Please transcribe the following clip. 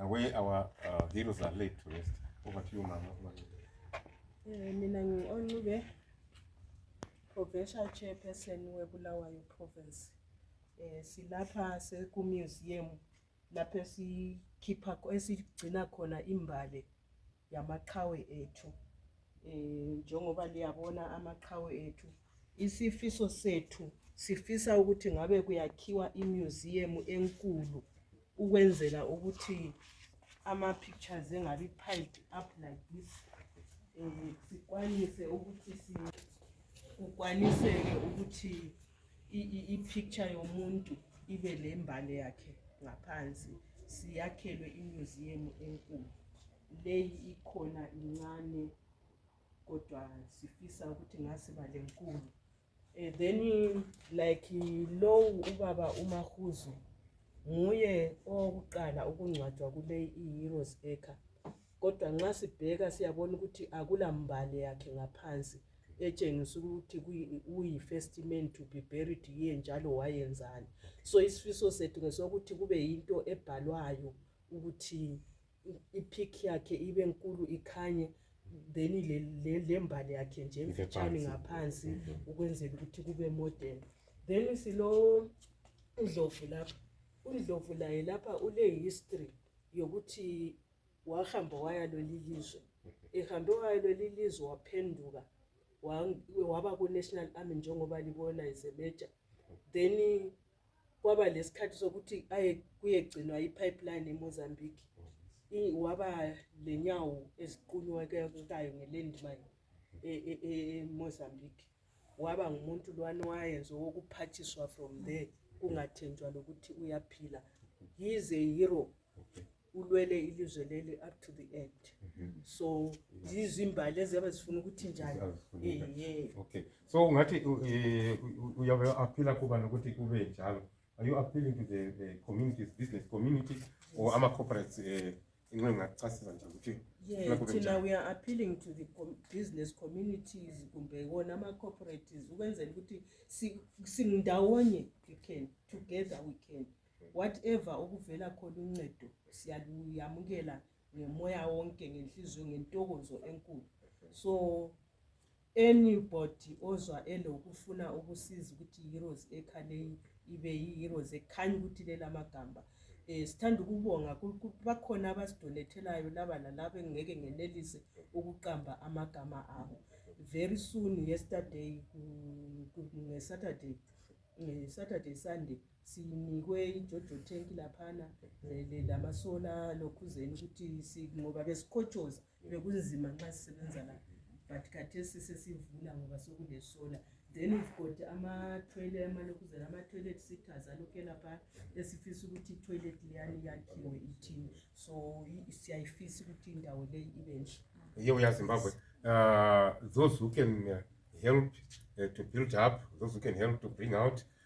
uh, where our uh, heroes are laid to rest. Over to you, Mama. Eh, mina ngi-onube provincial chairperson webulawayo province eh silapha sekumuseum lapho esikhipha esigcina khona imbali yamaqhawe ethu um njengoba liyabona amaqhawe ethu isifiso sethu sifisa ukuthi ngabe kuyakhiwa imuseum enkulu ukwenzela ukuthi ama pictures engabi piled up like this um sikwanise ukuthi sikwaniseke ukuthi ipicture yomuntu ibe lembali yakhe ngaphansi siyakhelwe imuseum enkulu leyi ikhona incane kodwa sifisa ukuthi ngasiba lenkulu eh, then like lowu ubaba umahuzu nguye owokuqala ukungcwatshwa kuleyi i-heroes acre kodwa nxa sibheka siyabona ukuthi akula mbali yakhe ngaphansi etshengisa ukuthi uyi first man to be buried here njalo wayenzani so isifiso sethu ngesokuthi kube yinto ebhalwayo ukuthi ipic yakhe ibe nkulu ikhanye then lembali yakhe nje emfitshane ngaphansi mm-hmm. ukwenzela ukuthi kube modern then silo ndlovu lapha undlovu laye lapha ule history yokuthi wahamba waya leli lizwe ehambe waya leli lizwe waphenduka wa- waba ku-national army njengoba libona izemeja then kwaba lesikhathi sokuthi aye kuyegcinwa i-pipeline emozambique I- waba lenyawo eziqunyekayo ngelandmine e- e- e- emozambique waba ngumuntu lwani wayenze wokuphathiswa from there kungathenjwa lokuthi uyaphila he is a hero ulwele ilizwe leli up to the end Mhm. so zizimbali eziyabe zifuna ukuthi njani Azifuneka. Ehe. okay so ungathi u- eh, u- u- uyabe aphila kuba nokuthi kube njalo are you appealing to the, the communities business community or ama-corporates um inxa ingacasisa nje ukuthi Yeah, Kulapho thina kunjani? we are appealing to the com- business communities kumbe wona ama-cooperatives ukwenzela ukuthi si- singindawonye we can together we can whatever okuvela khona uncedo siyaluyamukela ngemoya wonke ngenhliziyo ngentokozo enkulu so anybody ozwa elokufuna ukusiza ukuthi heroes ekhaleyi ibe yiheroes ekhanya ukuthi lelamagamba um sithanda ukubonga bakhona abasidonethelayo laba lalaba engingeke ngenelise ukuqamba amagama abo very soon yesterday ngesaturday ngesaturday sunday sinikwe ijojo tank laphana le- le- lamasola lokhuzeni ukuthi si- ngoba besikhotshoza bekunzima nxa sisebenza la but khathesi sesivula ngoba sekulesola then we've got amathwele amalokhuzeni amatoilet sitters alokhe lapha esifisa ukuthi itoilet leyani yakhiwe ithini so i- siyayifisa ukuthi indawo leyi ibe nhle here we are Zimbabwe. Uh, those who can uh, help uh, to build up, those who can help to bring out,